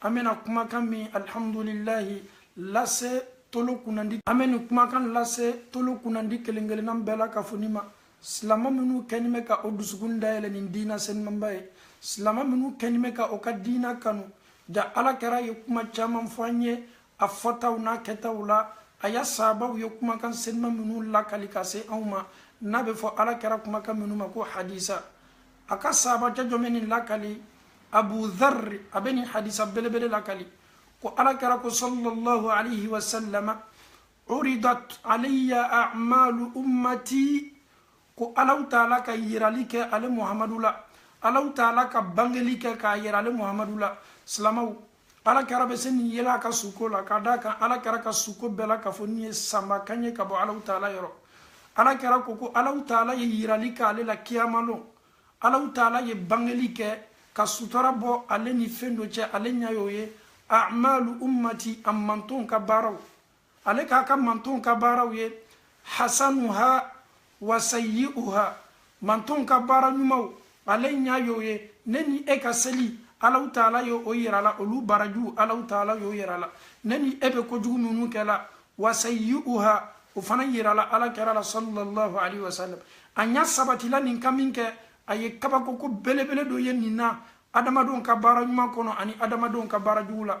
an bɛna kumakan min alihamudulilayi lase tolo kunnandi an bɛ nin kumakan lase tolo kunnandi kelen kelennan bɛɛ lakafoni ma silama minnu kɛni bɛ ka o dusukun dayɛlɛ nin diina senimanba ye silama minnu kɛni bɛ ka o ka diina kanu ja ala kɛra ye kuma caman fɔ an ye a fɔtaw n'a kɛtaw la a ya saabaw ye kumakan seniman minnu lakali ka se anw ma n'a bɛ fɔ ala kɛra kumakan minnu ma ko hadisa a ka saabacɛ jɔn bɛ nin lakali abu dharri a bɛ nin hadisa belebele lakali ko ala kɛra ko sallallahu alayhi wa sallama uridat alayya a'malu ummati ko alaw taala ka yirali kɛ ale muhamadu la alaw taala ka bangeli kɛ k'a yira ale muhamadu la silamaw ala kɛra bɛ se nin yela a ka suko la ka d'a kan ala kɛra ka suko bɛɛ lakafonin ye sanba kan ye ka bɔ alaw taala yɔrɔ ala kɛra ko ko alaw taala ye yirali kɛ ale la kiyamalon alaw taala ye bangeli kɛ ka sutura bɔ ale ni fɛn dɔ cɛ ale ɲa y'o ye amalu ummati a mantonw ka baaraw ale k'a ka mantonw ka baaraw ye hasanuha wa sayi'uha mantonw ka baara ɲumanw ale ɲa y'o ye ne ni e ka seli alaw taala ye o yir'a la olu barajuw alaw taala y'o yir'a la ne ni e bɛ kojugu minnu kɛla wa sayi'uha o fana yirala ala kɛra la sallallahu alaihi wa sallam a ɲa sabatila nin kan minkɛ a ye kabakoko belebele dɔ ye nin na adamadenw ka baara ɲuman kɔnɔ ani adamadenw ka baara jugu la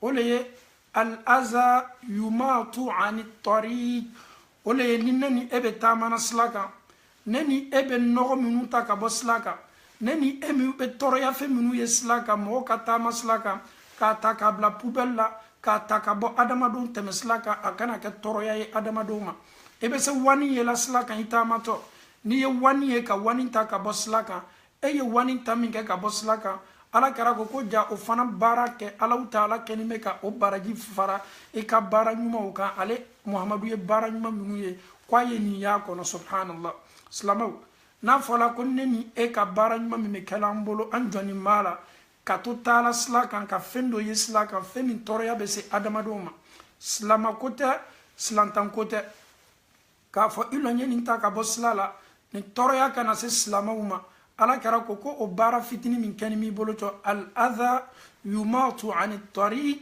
o le ye al-aza yumatu ani tariq o le ye ni ne ni e bɛ taamana sila kan ne ni e bɛ nɔgɔ minnu ta ka bɔ sila kan ne ni e min bɛ tɔɔrɔya fɛn minnu ye sila kan mɔgɔ ka taamasila kan k'a ta k'a bila poubelle la k'a ta ka bɔ adamadenw tɛmɛsila kan a kana kɛ tɔɔrɔya ye adamadenw ma i bɛ se wani yela sila kan i taamatɔ n'i ye wani ye ka wani ta ka bɔ sila kan e ye wani ta min kɛ ka bɔ sila kan ala kɛra ko ko ja o fana baara kɛ alaw taala kɛni bɛ ka o baraji fara i ka baara ɲumanw kan ale muhamadu ye baara ɲuman minnu ye ko a ye nin y'a kɔnɔ subhanallah silamaw n'a fɔla ko ne ni e ka baara ɲuman min bɛ kɛla an bolo an jɔnni b'a la ka to taala sila kan ka fɛn dɔ ye sila kan fɛn min tɔɔrɔya bɛ se adamadenw ma silamako tɛ silantanko tɛ k'a fɔ i lɔ n ye nin ta ka bɔ sila la nin tɔɔrɔya kana se silamaw ma ala kɛra ko ko o baara fitini min kɛni b'i bolo cɔ al adha yumatu ani tariq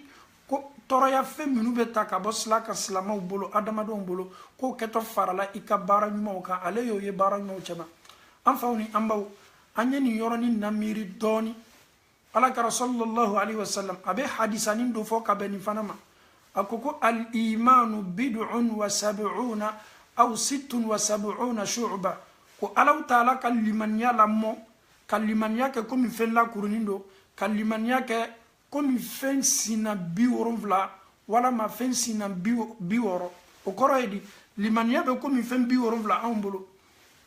ko tɔɔrɔya fɛn minnu bɛ ta ka bɔ sila kan silamaw bolo adamadenw bolo k'o kɛtɔ farala i ka baara ɲumanw kan ale y'o ye baara ɲumanw cɛma an faw ni an baw an ye nin yɔrɔnin namiiri dɔɔni ala kɛra sallallahu alaihi wasallam a bɛ hadisanin dɔ fɔ ka bɛ nin fana ma a ko ko al imanu bid'un wa sab'una aw sittun wa sab'una shu'ba ko alahu taala ka limaniya lamɔ ka limaniya kɛ komi fɛn lakurunin dɔ ka limaniya kɛ komi fɛn sinna bi wolonfila walama fɛn sinna bi wɔɔrɔ o kɔrɔ ye di limaniya bɛ komi fɛn bi wolonfila anw bolo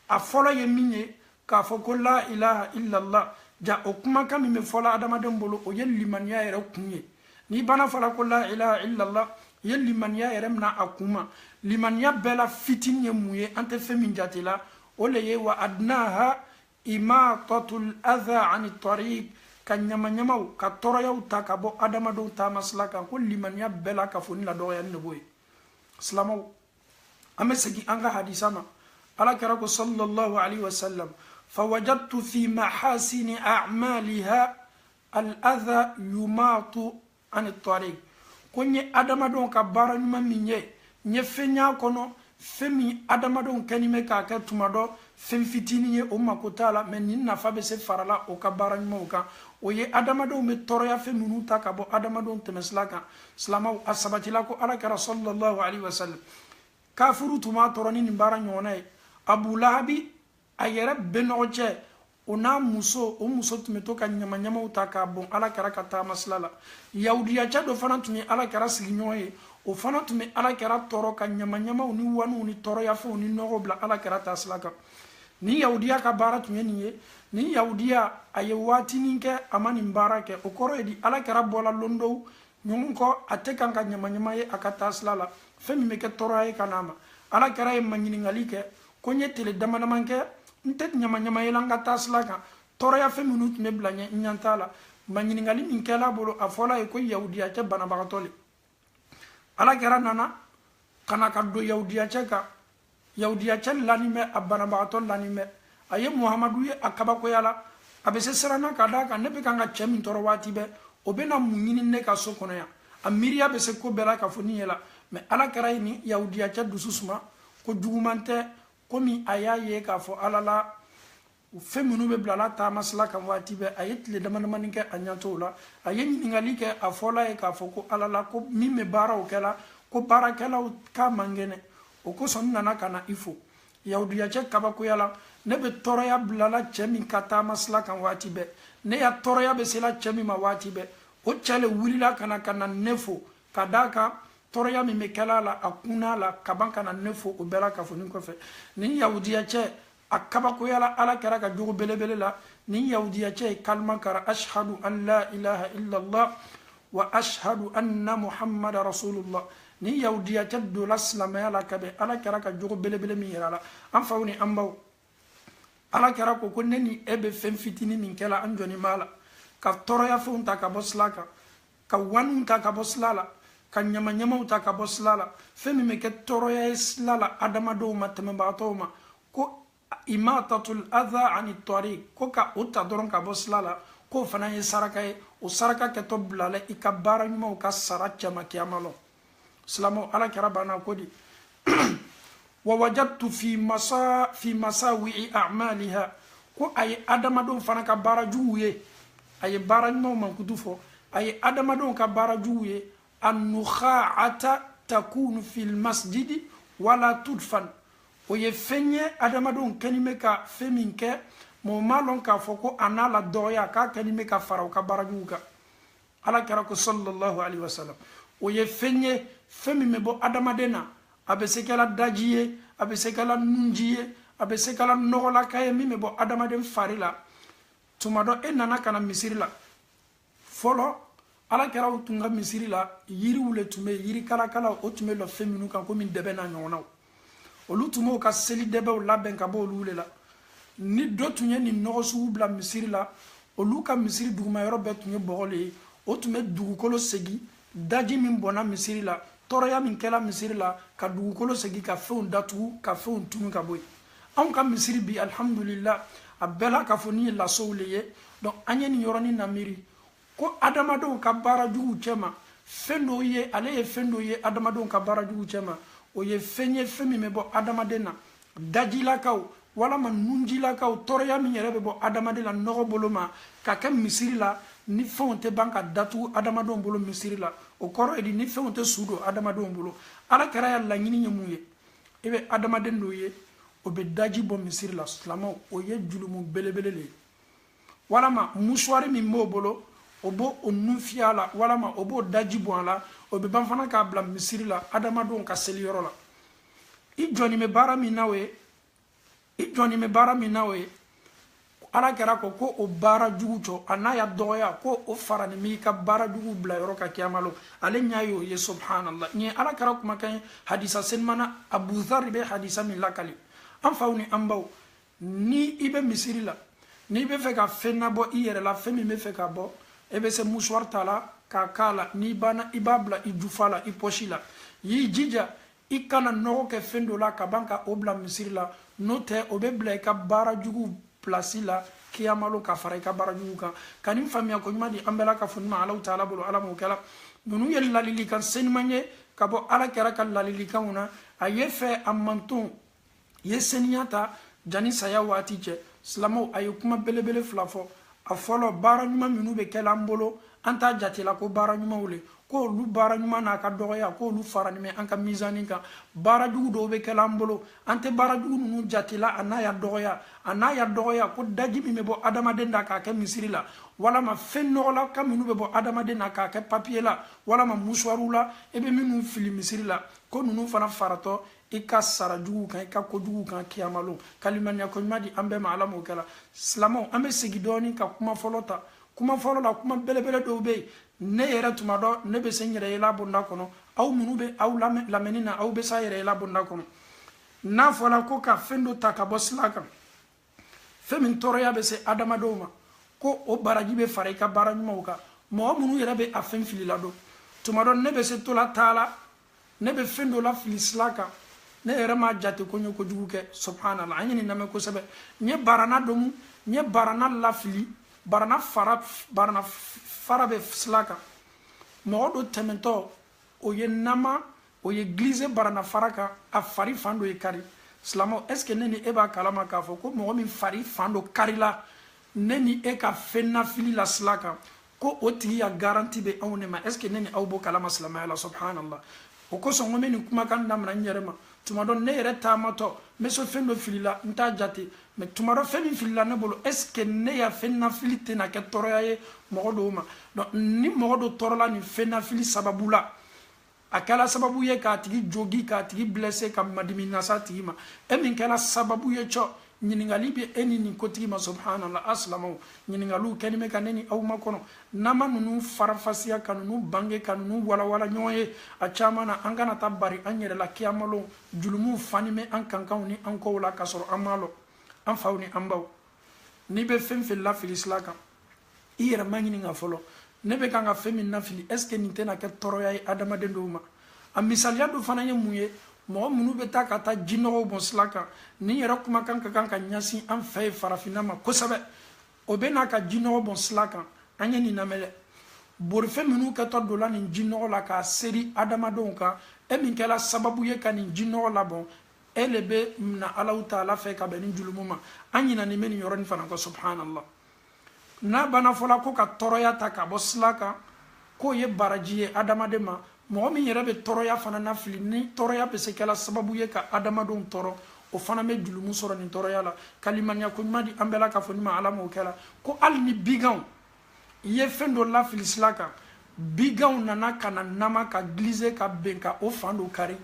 a fɔlɔ ye min ye k'a fɔ ko la ilaha illallah ja o kumakan min bɛ fɔla adamaden bolo o ye limaniya yɛrɛ kun ye n'i ban'a fɔla ko la ilaha illallah i ye limaniya yɛrɛ mina a kun ma limaniya bɛɛ la fitini ye mun ye an tɛ fɛn min jate la o le ye wa adnaha imatatul adha ani tariq ka ɲamaɲamaw ka tɔɔrɔyaw ta ka bɔ adamadenw taamasila kan ko limaniya bɛɛ lakafonin la dɔgɔyani de b'o ye silamaw an bɛ segin an ka hadisa ma ala kɛra ko sallallahu alaihi wasallam fawajadtu fi mahasini a'maliha al-adha yumatu ani tariq ko n ye adamadenw ka baara ɲuman min ye n ye fɛn y'a kɔnɔ fɛn min adamadenw kɛni bɛ k'a kɛ tuma dɔ fɛn fitinin ye o mako t'a la mɛ nin nafa bɛ se farala o ka baara ɲumanw kan o ye adamadenw bɛ tɔɔrɔya fɛn minnu ta ka bɔ adamadenw tɛmɛsira kan silamaw a sabatila ko ala kɛra sallallahu alaihi wasallam kafuru tun b'a tɔɔrɔ ni nin baara ɲɔgɔnna ye abu lahabi a yɛrɛ bɛnɔgɔcɛ o n'a muso o muso tun bɛ to ka ɲamaɲamaw ta k'a bɔn ala kɛra ka taamasila la yahudiyacɛ dɔ fana tun ye ala kɛra sigiɲɔgɔn ye o fana tun bɛ ala kɛra tɔɔrɔ ka ɲamaɲamaw ni wanuw ni tɔɔrɔyafɛnw ni nɔgɔw bila ala kɛra taasila kan nin yahudiya ka baara tun ye nin ye nin yahudiya a ye waatinin kɛ a ma nin baara kɛ o kɔrɔ ye di ala kɛra bɔla lon dɔw ɲɔgɔn kɔ a tɛ kan ka ɲamaɲama ye a ka taasila la fɛn min bɛ kɛ tɔɔrɔya ye ka n'a ma ala kɛra ye maɲininkali kɛ ko n ye tile dama dama kɛ n tɛ ɲamaɲama yela n ka taasila kan tɔɔrɔya fɛn minnu tun bɛ bila ɲɛ n ɲa t'a la maɲininkali min kɛl'a bolo a fɔl'a ye ko yahudiyacɛ banabagatɔ le ala kɛra nana ka na ka don yahudiyacɛ kan yahudiyacɛ lanin bɛ a banabagatɔ lanin bɛ a ye muhamadu ye a kabakoyala a bɛ se siranna ka d'a kan ne bɛ kan ka cɛ min tɔɔrɔ waati bɛɛ o bɛna mun ɲini ne ka so kɔnɔ yan a miiriya bɛ se ko bɛɛ lakafonin ye la mɛ ala kɛra ye nin yahudiyacɛ dusu suma ko juguman tɛ komi a y'a ye k'a fɔ ala la o fɛn minnu bɛ bila a la taamasila kan waati bɛɛ a ye tile damadamani kɛ a ɲɛ t'o la a ye ɲininkali kɛ a fɔl'a ye k'a fɔ ko ala la ko min bɛ baaraw kɛla ko baarakɛlaw k'a man kɛnɛ o kosɔn n nana ka na i fo yahudiyacɛ kabakoyala ne bɛ tɔɔrɔya bilala cɛ min ka taamasila kan waati bɛɛ ne ya tɔɔrɔya bɛ sela cɛ min ma waati bɛɛ o cɛ le wulila ka na ka na ne fo ka d'a kan tɔɔrɔya min bɛ kɛla a la a kunna a la kaban ka na ne fo o bɛɛ lakafonin kɔfɛ nin yahudiyacɛ a kabakoyala ala kɛra ka jogo belebele la nin yahudiya cɛ ye kalima karan ashhadu an la ilaha illallah wa ashhadu anna muhammada rasulullah nin yahudiya cɛ dola silamɛya la ka bɛn ala kɛra ka jogo belebele min yirala an faw ni an baw ala kɛra ko ko ne ni e bɛ fɛn fitini min kɛla an jɔnnin b'a la ka tɔɔrɔya fɛnw ta ka bɔ sila kan ka waninw ta ka bɔ sila la ka ɲamaɲamaw ta ka bɔ sila la fɛn min bɛ kɛ tɔɔrɔya ye sila la adamadenw ma tɛmɛbagatɔw ma ko imatatul adha ani tariq ko ka o ta dɔrɔn ka bɔ sila la k'o fana ye saraka ye o saraka kɛtɔ bilala i ka baara ɲumanw ka sara cɛma kiyama lon silamɛw ala kɛra banna ko di wa wajadtu fi masawi'i a'maliha ko a ye adamadenw fana ka baara juguw ye a ye baara ɲumanw mankutu fɔ a ye adamadenw ka baara juguw ye annukha'ata takunu fil masjidi wala tudfan o ye fɛn ye adamadenw kɛnin bɛ ka fɛn min kɛ mɔgɔ m'a lɔn k'a fɔ ko a n'a la dɔgɔya k'a kɛnin bɛ ka fara u ka baara juguw kan ala kɛra ko sallallahu alaihi wasallam o ye fɛn ye fɛn min bɛ bɔ adamaden na a bɛ se kɛla daji ye a bɛ se kɛla nunji ye a bɛ se kɛla nɔgɔlaka ye min bɛ bɔ adamaden fari la tuma dɔ e nana ka na misiri la fɔlɔ ala kɛraw tun ka misiri la yiriw le tun bɛ yiri kalakalaw o tun bɛ lɔ fɛn minnu kan komi dɛbɛ n'a ɲɔgɔnnaw olu tun b'o ka seli dɛbɛw labɛn ka bɔ olu le la ni dɔ tun ye nin nɔgɔ sugu bila misiri la olu ka misiri duguma yɔrɔ bɛɛ tun ye bɔgɔ le ye o tun bɛ dugukolo segin daji min bɔnna misiri la tɔɔrɔya min kɛla misiri la ka dugukolo segin ka fɛnw datugu ka fɛnw tunu ka bɔ yen anw ka misiri bi alhamdulillah a bɛɛ la k'a fɔ nin ye lasow le ye donc an ye nin yɔrɔnin namiiri ko adamadenw ka baara juguw cɛma fɛn dɔw ye ale ye fɛn dɔw ye adamadenw ka baara juguw cɛma o ye fɛn ye fɛn min bɛ bɔ adamaden na dajilakaw walama nunjilakaw tɔɔrɔya min yɛrɛ bɛ bɔ adamaden la nɔgɔ bolo ma ka kɛ misiri la nin fɛnw tɛ ban ka datugu adamadenw bolo misiri la o kɔrɔ ye di nin fɛnw tɛ su don adamadenw bolo ala kɛra ya laɲini ye mun ye i bɛ adamaden dɔw ye o bɛ daji bɔ misiri la silamɛw o ye julumu belebele le ye walama musuwari min b'o bolo o b'o o nun fiyɛ a la walama o b'o daji bɔn a la o bɛ ban fana k'a bila misiri la adamadenw ka seli yɔrɔ la i jɔnnin bɛ baara min na o ye i jɔnnin bɛ baara min na o ye ala kɛra ko ko o baara jugu jɔ a n'a ya dɔgɔya ko o faranin b'i ka baara jugu bila yɔrɔ kan kiyama lon ale ɲɛ y'o ye subhanallah nin ye ala kɛra kumakan ye hadisa senimana abu zari bɛ hadisa min lakali an faw ni an baw ni i bɛ misiri la n'i bɛ fɛ ka fɛn nabɔ i yɛrɛ la fɛn min bɛ fɛ ka bɔ e bɛ se musuwari ta la k'a k'a la n'i banna i b'a bila i jufa la i pɔsi la y'i jija i kana nɔgɔ kɛ fɛn dɔ la ka ban ka o bila misiri la n'o tɛ o bɛ bila i ka baara jugu pilasi la kiyamalon ka fara i ka baara jugu kan ka nin faamuya ko ɲuman di an bɛɛ la ka fɔ ɲuman alaw taala bolo ala m'o kɛla ninnu ye ladilikan seniman ye ka bɔ ala kira ka ladilikanw na a ye fɛ a mantonw ye seniya ta jani saya waati cɛ silamaw a ye kuma belebele fila fɔ a fɔlɔ baara ɲuman minnu bɛ kɛla an bolo an t'a jatela ko baara ɲumanw le ko olu baara ɲuman n'a ka dɔgɔya ko olu faranin bɛ an ka mizani kan baara jugu dɔw bɛ kɛla an bolo an tɛ baara jugu ninnu jatela a n'a ya dɔgɔya a n'a ya dɔgɔya ko daji min bɛ bɔ adamaden na k'a kɛ misiri la walama fɛn nɔgɔla ka minnu bɛ bɔ adamaden na k'a kɛ papiye la walama musuwariw la i bɛ minnu fili misiri la ko ninnu fana faratɔ i ka sara juguw kan i ka ko juguw kan kiyamalon ka limaniya ko ɲuman di an bɛɛ ma ala m'o kɛla silamaw an bɛ segi dɔɔni ka kuma fɔlɔ ta kuma fɔlɔ la kuma belebele dɔw bɛ yen ne yɛrɛ tuma dɔ ne bɛ se n yɛrɛ yela bonda kɔnɔ aw minnu bɛ aw lamɛnni na aw bɛ se a yɛrɛ yela bonda kɔnɔ n'a fɔla ko ka fɛn dɔ ta ka bɔ sila kan fɛn min tɔɔrɔya bɛ se adamadenw ma ko o baraji bɛ fara i ka baara ɲumanw kan mɔgɔ minnu yɛrɛ bɛ a fɛn filila don tuma dɔ ne bɛ se tola taa la ne bɛ fɛn dɔ lafili sila kan ne yɛrɛ m'a jate ko n ye kojugu kɛ subhanallah an ye nin lamɛn kosɛbɛ n ye barana domu n ye barana lafili barana fara barana fara bɛ sila kan mɔgɔ dɔ tɛmɛtɔ o ye nama o ye glissé barana fara kan a fari fan dɔ ye kari silamɛw est ce que ne ni e b'a kalama k'a fɔ ko mɔgɔ min fari fan dɔ karila ne ni e ka fɛn nafili la sila kan ko o tigi ya garanti bɛ anw de ma est ce que ne ni aw b'o kalama silamɛya la subhanallah o kosɔn n ko n bɛ nin kumakan damina n yɛrɛ ma tuma dɔ ne yɛrɛ taamatɔ n bɛ so fɛn dɔ filila n t'a jate mais tuma dɔ fɛn min filila ne bolo est ce que ne ya fɛn nafili tɛna kɛ tɔɔrɔya ye mɔgɔ dɔw ma donc ni mɔgɔ dɔ tɔɔrɔla nin fɛn nafili sababu la a kɛla sababu ye k'a tigi jogi k'a tigi blessé ka madimi nas'a tigi ma e min kɛla sababu ye cɔ ɲininkali bɛ e ni nin kotigi ma subhanallah a silamɛw ɲininkaliw kɛni bɛ ka ne ni aw makɔnɔ n'an ma ninnu faranfasiya ka ninnu bange ka ninnu walawala ɲɔgɔn ye a caman na an kana taa bari an yɛrɛ la kiyamalon jurumuw fani bɛ an kankanw ni an kɔw la k'a sɔrɔ an m'a lɔn an faw ni an baw n'i bɛ fɛn fɛn lafili sila kan i yɛrɛ maɲininka fɔlɔ ne bɛ kan ka fɛn min nafili est ce que nin tɛna kɛ tɔɔrɔya ye adamaden dɔw ma a misaliya dɔ fana ye mun ye mɔgɔ minnu bɛ taa ka taa jinɔgɔw bɔn sira kan nin yɛrɛ kumakan ka kan ka ɲɛsin an fɛ ye farafinna ma kosɛbɛ o bɛ n'a ka jinɔgɔ bɔn sira kan an ye nin lamɛn dɛ borifɛn minnu kɛtɔ donna nin jinɔgɔ la k'a seri adamadenw kan e min kɛla sababu ye ka nin jinɔgɔ labɔn e le bɛ na alaw taala fɛ ka bɛn nin julumu ma an ɲinani bɛ nin yɔrɔnin fana kɔ subhanallah n'a banna fɔla ko ka tɔɔrɔya ta ka bɔ sila kan k'o ye baraji ye adamaden ma mɔgɔ min yɛrɛ bɛ tɔɔrɔya fana nafili ni tɔɔrɔya bɛ se kɛla sababu ye ka adamadenw tɔɔrɔ o fana bɛ julumu sɔrɔ nin tɔɔrɔya la ka limaniya ko ɲuman di an bɛɛ lakafonin ma ala m'o kɛla ko hali ni biganw i ye fɛn dɔ lafili sila kan biganw nana ka na nama ka glisser ka ben ka o fan dɔ kari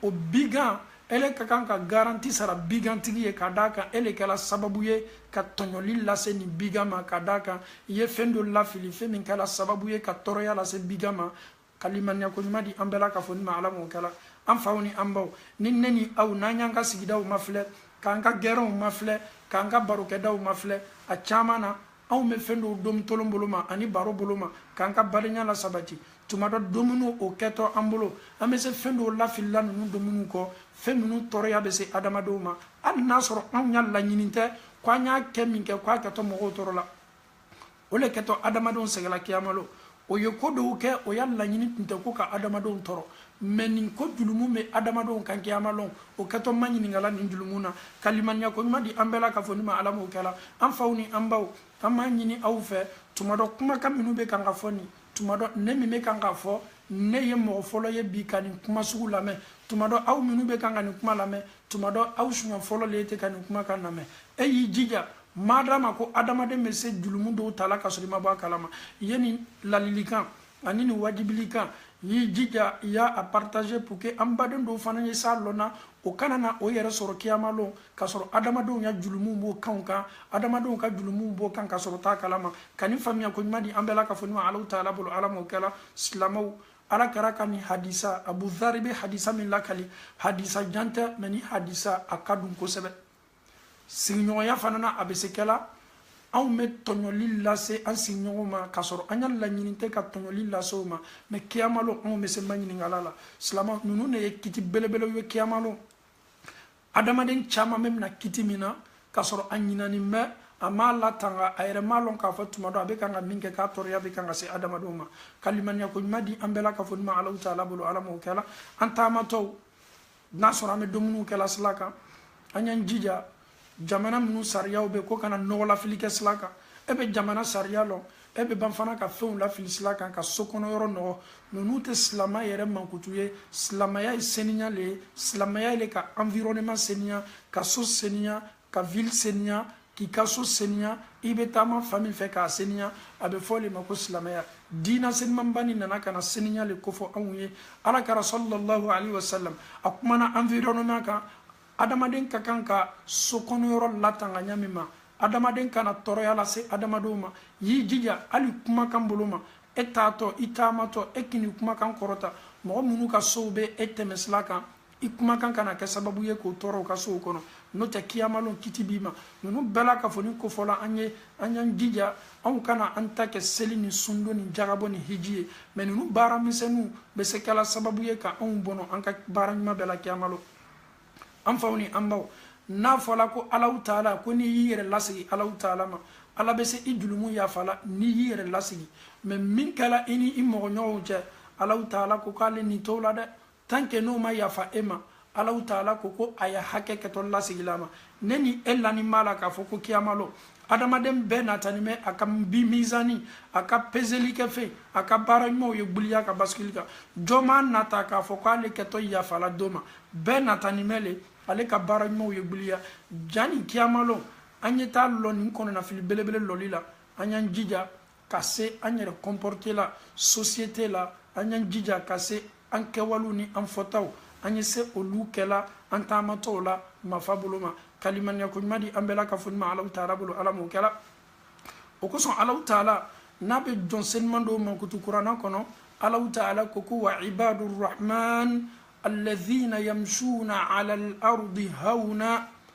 o bigan e le ka kan ka garanti sara bigantigi ye ka d'a kan e le kɛla sababu ye ka tɔɲɔli lase nin bigan ma ka d'a kan i ye fɛn dɔ lafili fɛn min kɛla sababu ye ka tɔɔrɔya lase bigan ma ka limaniya ko ɲuman di an bɛɛ lakafonin ma ala m'o kɛla an faw ni an baw ni ne ni aw n'an y'an ka sigidaw mafilɛ k'an ka gɛrɛnw mafilɛ k'an ka barokɛdaw mafilɛ a caman na anw bɛ fɛn dɔw domu tolon bolo ma ani baro bolo ma k'an ka badenya lasabati tuma dɔ domuni o kɛtɔ an bolo an bɛ se fɛn dɔw lafilila ninnu domuni kɔ fɛn minnu tɔɔrɔya bɛ se adamadenw ma hali n'a sɔrɔ anw ya laɲini tɛ ko an y'a kɛ min kɛ k'a kɛtɔ mɔgɔw tɔɔrɔ la o le kɛtɔ adamadenw sɛgɛla kiyama lon o ye ko dɔw kɛ o ya laɲini tun tɛ ko ka adamadenw tɔɔrɔ mais nin ko julumu bɛ adamadenw kan kiyama lon o kɛtɔ maɲininkala nin julumu na ka limaniya ko ɲuman di an bɛɛ lakafonin ma ala m'o kɛla an faw ni an baw an b'a ɲini aw fɛ tuma dɔ kumakan minnu bɛ kan ka fɔ nin tuma dɔ ne min bɛ kan ka fɔ ne ye mɔgɔ fɔlɔ ye bi ka nin kuma sugu lamɛn tuma dɔ aw minnu bɛ kan ka nin kuma lamɛn tuma dɔ aw siɲɛ fɔlɔ le ye tɛ ka nin kumakan lamɛn e y'i jija madama ko adamaden bɛ se julumu dɔw tala ka sɔrɔ i ma bɔ a kalama i ye nin ladilikan ani nin wajibilikan y'i jija i y'a partager pour que an baden dɔw fana ye s'a lɔnna o kana na o yɛrɛ sɔrɔ kiyama lon k'a sɔrɔ adamadenw ya julumu b'o kanw kan adamadenw ka julumu b'o kan k'a sɔrɔ t'a kalama ka nin faamuya ko ɲuman di an bɛɛ lakafonin ma alaw taala bolo ala m'o kɛla silamaw ala kira ka nin hadisa abu dhari bɛ hadisa min lakali hadisa jan tɛ mais nin hadisa a ka dun kosɛbɛ sigiɲɔgɔnya fana na a bɛ se kɛla anw bɛ tɔɲɔli lase an sigiɲɔgɔnw ma k'a sɔrɔ an ka laɲini tɛ ka tɔɲɔli lase o ma mais kiyama lon anw bɛ se maɲininkala la silamaw ninnu de ye kiti belebelew ye kiyama lon adamaden caman bɛ mina kiti min na k'a sɔrɔ a ɲinani bɛ a m'a latanga a yɛrɛ m'a lɔn k'a fɔ tuma dɔ a bɛ kan ka min kɛ k'a tɔɔrɔya bɛ kan ka se adamadenw ma ka limaniya ko ɲuman di an bɛɛ lakafonin ma alaw taala bolo ala m'o kɛla an taamatɔw n'a sɔrɔ an bɛ dumuniw kɛla sila kan an y'an jija jamana minnu sariyaw bɛ ko kana nɔgɔlafili kɛ sila kan e bɛ jamana sariya lɔn e bɛ ban fana ka fɛnw lafili sila kan ka so kɔnɔ yɔrɔ nɔgɔ ninnu tɛ silama yɛrɛ mankutu ye silamaya ye seniya le ye silamaya ye le ka environnement seniya ka so seniya ka ville seniya k'i ka so seniya i bɛ taama fan min fɛ k'a seniya a bɛ fɔ le ma ko silamɛya diina senimanba nin nana ka na seniya le kofɔ anw ye ala kira sallallahu alaihi wa sallam a kumana environnement kan adamaden ka kan ka so kɔnɔyɔrɔ latanga ɲa min ma adamaden kana tɔɔrɔya lase adamadenw ma y'i jija hali kumakan bolo ma e taatɔ i taamatɔ e kan'i kumakan kɔrɔta mɔgɔ minnu ka sow bɛ e tɛmɛsira kan i kumakan kana kɛ sababu ye k'o tɔɔrɔ u ka sow kɔnɔ n'o tɛ kiyamalon kiti b'i ma ninnu bɛɛ lakafonin kofɔla an ye an y'an jija anw kana an ta kɛ seli ni sundon ni jagabɔ ni hiji ye mɛ ninnu baara misɛnninw bɛ se kɛla sababu ye ka anw bɔnɔ an ka baara ɲuman bɛɛ la kiyamalon an faw ni an baw n'a fɔla ko alaw taala ko n'i y'i yɛrɛ lasegi alaw taala ma ala bɛ se i julumu yafala n'i y'i yɛrɛ lasegi mɛ min kɛla i ni i mɔgɔɲɔgɔnw cɛ alaw taala ko k'ale nin t'o la dɛ tant que n'o ma yafa e ma alahu taala ko ko a ye hakɛ kɛtɔ lasegila a ma ne ni e lanin b'a la k'a fɔ ko kiyamalo adamaden bɛɛ natanin mɛ a ka bi mizani a ka pezelikɛfɛn a ka baara ɲumanw ye gbuliya ka basikili kan jɔn m'a nata k'a fɔ k'ale kɛtɔ yafala dɔ ma bɛɛ natanin mɛ le ale ka baara ɲumanw ye gbuliya jani kiyamalo an ye taa lɔ nin kɔnɔnafili belebele lɔli la an y'an jija ka se an yɛrɛ comporter la société la an y'an jija ka se an kɛwalew ni an fɔtaw an ye se olu kɛla an taamatɔw la mafa bolo ma ka limaniya ko ɲuman di an bɛɛ lakafonin ma alaw taala bolo ala m'o kɛla o kosɔn alaw taala n'a bɛ jɔn seniman dɔw mankutu kuranna kɔnɔ alaw taala ko ko wa ibadu rahman alladhina yamshuna ala al-ardi hauna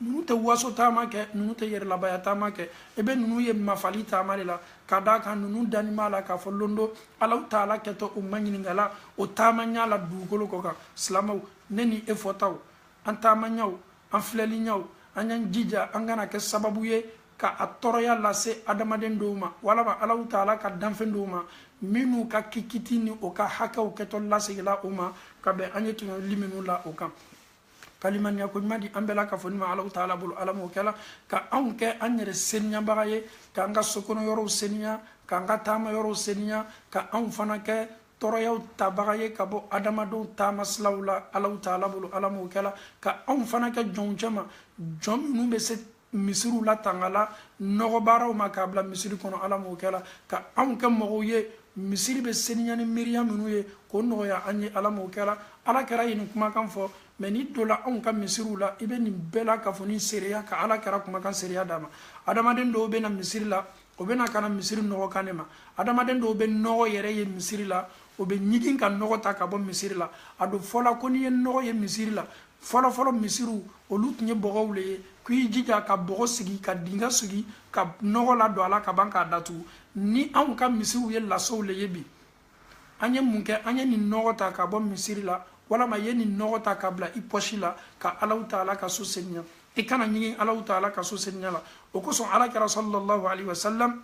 ninnu tɛ waso taama kɛ ninnu tɛ yɛrɛlabaya taama kɛ i bɛ ninnu ye mafali taama le la ka d'a kan ninnu lanin b'a la k'a fɔ lon dɔ alaw taala kɛtɔ o maɲininkala o taama ɲa la dugukolo kɔ kan silamɛw ne ni e fɔtaw an taama ɲaw an filɛli ɲaw an y'an jija an kana kɛ sababu ye ka a tɔɔrɔya lase adamaden dɔw ma walama alaw taala ka danfɛn dɔw ma minnu ka kiti ni o ka hakɛw kɛtɔ lasegila o ma ka bɛn an ye tɔɲɔli minnu la o kan ka limaniya ko ɲuman di an bɛɛ lakafonin ma alaw taala bolo ala m'o kɛla ka anw kɛ an yɛrɛ seniyabaga ye k'an ka sokɔnɔ yɔrɔw seniya k'an ka taama yɔrɔw seniya ka anw fana kɛ tɔɔrɔyaw tabaga ye ka bɔ adamadenw taama silaw la alaw taala bolo ala m'o kɛla ka anw fana kɛ jɔnw cɛma jɔn minnu bɛ se misiriw latangala nɔgɔbaaraw ma k'a bila misiri kɔnɔ ala m'o kɛla ka anw kɛ mɔgɔw ye misiri bɛ seniya ni miiriya minnu ye k'o nɔgɔya an ye ala m'o kɛla ala kɛra ye nin kumakan fɔ mɛ n'i donna anw ka misiriw la i bɛ nin bɛɛ lakafonin seereya ka ala kɛra kumakan seereya d'a ma adamaden dɔw bɛ na misiri la o bɛ na ka na misiri nɔgɔ kan ne ma adamaden dɔw bɛ nɔgɔ yɛrɛ ye misiri la o bɛ ɲigin ka nɔgɔ ta ka bɔ misiri la a dun fɔla ko n'i ye nɔgɔ ye misiri la fɔlɔfɔlɔ misiriw olu tun ye bɔgɔw le ye k'i jija ka bɔgɔ sigi ka dinga sigi ka nɔgɔ ladon a la ka ban k'a datugu ni anw ka misiriw ye lasow le ye bi an ye mun kɛ an ye nin nɔgɔ ta ka bɔ misiri la walama ye nin nɔgɔ ta ka bila i pɔsi la ka allahu taala ka so seniya i kana ɲigin allahu taala ka so seniya la o kosɔn ala kɛra sallallahu alaihi wasallam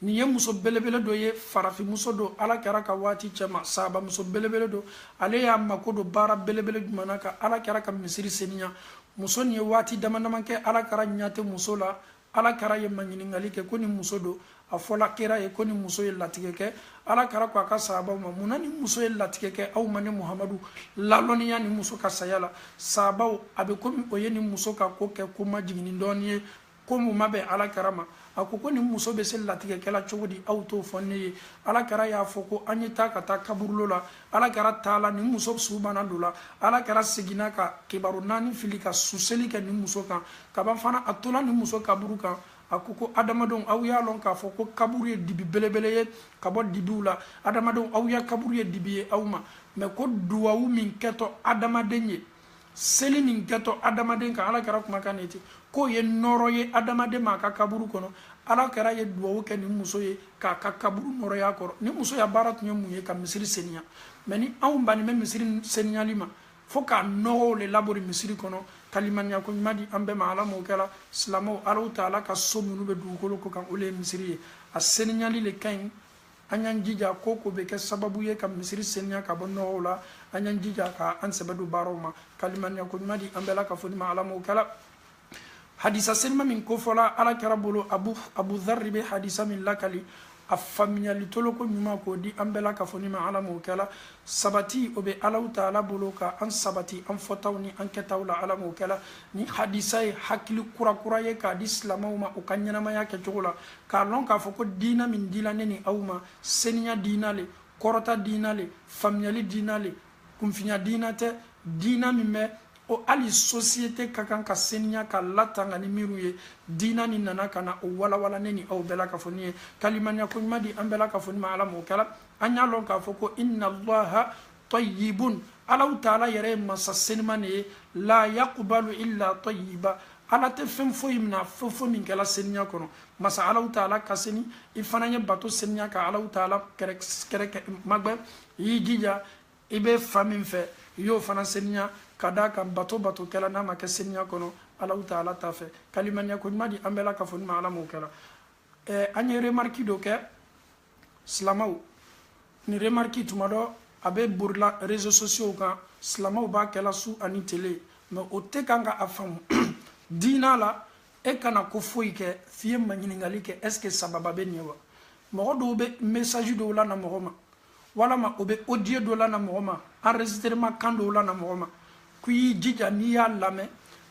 nin ye muso belebele dɔ ye farafinmuso don ala kɛra ka waati cɛma sahaba muso belebele don ale y'a mako don baara belebele jumɛn na ka ala kɛra ka misiri seniya muso nin ye waati dama dama kɛ ala kɛra ɲa tɛ muso la ala kɛra ye maɲininkali kɛ ko nin muso don a fɔla kira ye ko nin muso ye latigɛ kɛ ala kɛra ko a ka sahabaw ma mun na nin muso ye latigɛ kɛ aw ma ne muhamadu lalɔnniya nin muso ka saya la sahabaw a bɛ komi o ye nin muso ka ko kɛ ko majiginnin dɔɔni ye ko min ma bɛn ala kɛra ma a ko ko nin muso bɛ se latigɛ kɛla cogo di aw t'o fɔ ne ye ala kɛra y'a fɔ ko an ye taa ka taa kaburulo la ala kɛra taala nin muso su banna don la ala kɛra seginna ka kibaru naani fili ka suseli kɛ nin muso kan ka ban fana a tola nin muso kaburu kan a ko ko adamadenw aw y'a lɔn k'a fɔ ko kaburu ye dibi belebele ye ka bɔ dibiw la adamadenw aw ya kaburu ye dibi ye aw ma mɛ ko duwawu min kɛtɔ adamaden ye seli min kɛtɔ adamaden kan ala kɛra kumakan de ten k'o ye nɔɔrɔ ye adamaden ma a ka kaburu kɔnɔ ala kɛra ye duwawu kɛ nin muso ye k'a ka kaburu nɔɔrɔya kɔrɔ nin muso ya baara tun ye mun ye ka misiri seniya mɛ ni anw bannen bɛ misiri seniyali ma fo ka nɔgɔw le labori misiri kɔnɔ ka limaniya ko ɲuman di an bɛɛ ma ala m'o kɛla silamɛw allahu taala ka so minnu bɛ dugukolo kɔ kan o le ye misiri ye a seniyali le ka ɲi an y'an jija ko ko bɛ kɛ sababu ye ka misiri seniya ka bɔ nɔgɔw la an y'an jija ka an sɛbɛ don baaraw ma ka limaniya ko ɲuman di an bɛɛ lakafonin ma ala m'o kɛla hadisa senima min kofɔla ala kɛra bolo abu abu dharri bɛ hadisa min lakali a faamuyali toloko ɲuman k'o di an bɛɛ lakafonin ma ala m'o kɛla sabati o bɛ allahu taala bolo ka an sabati an fɔtaw ni an kɛtaw la ala m'o kɛla nin hadisa ye hakili kurakura ye k'a di silamɛw ma u ka ɲɛnamaya kɛcogo la k'a lɔn k'a fɔ ko diina min dila ne ni aw ma seniya diina le kɔrɔta diina le faamuyali diina le kunfinya diina tɛ diina min bɛ o hali sosiyete ka kan ka seniya k'a latanga ni miiriw ye diina nin nana ka na o walawala ne ni aw bɛɛ lakafonin ye ka limaniya ko ɲuman di an bɛɛ lakafonin ma ala m'o kɛla an y'a lɔn k'a fɔ ko inna allaha tɔyibun alahu taala yɛrɛ ye masa seniman ne ye la yakubalu illa tɔyiba ala tɛ fɛn foyi mina fo fɛn min kɛla seniya kɔnɔ masa alahu taala ka seni i fana ye bato seniya ka alahu taala kɛrɛkɛ magbɛ i y'i jija i bɛ fan min fɛ i y'o fana seniya ka d'a kan bato bato kɛla n'a ma kɛ seniya kɔnɔ alahu taala t'a fɛ ka limaniya ko ɲuman di an bɛɛ la ka fɔ ni ma ala m'o kɛla an ye remariki dɔ kɛ silamaw nin remarki tuma dɔ a bɛ borila réseaux sociaux kan silamaw b'a kɛla su ani tele mais o tɛ kan ka a faamu diina la e kana ko foyi kɛ f'i ye maɲininkali kɛ est ce que sababa bɛ ɲɛ wa mɔgɔ dɔw bɛ message dɔ lana mɔgɔ ma walama o bɛ audio dɔ lana mɔgɔ ma enregistrement kan dɔ lana mɔgɔ ma k'i y'i jija n'i y'a lamɛn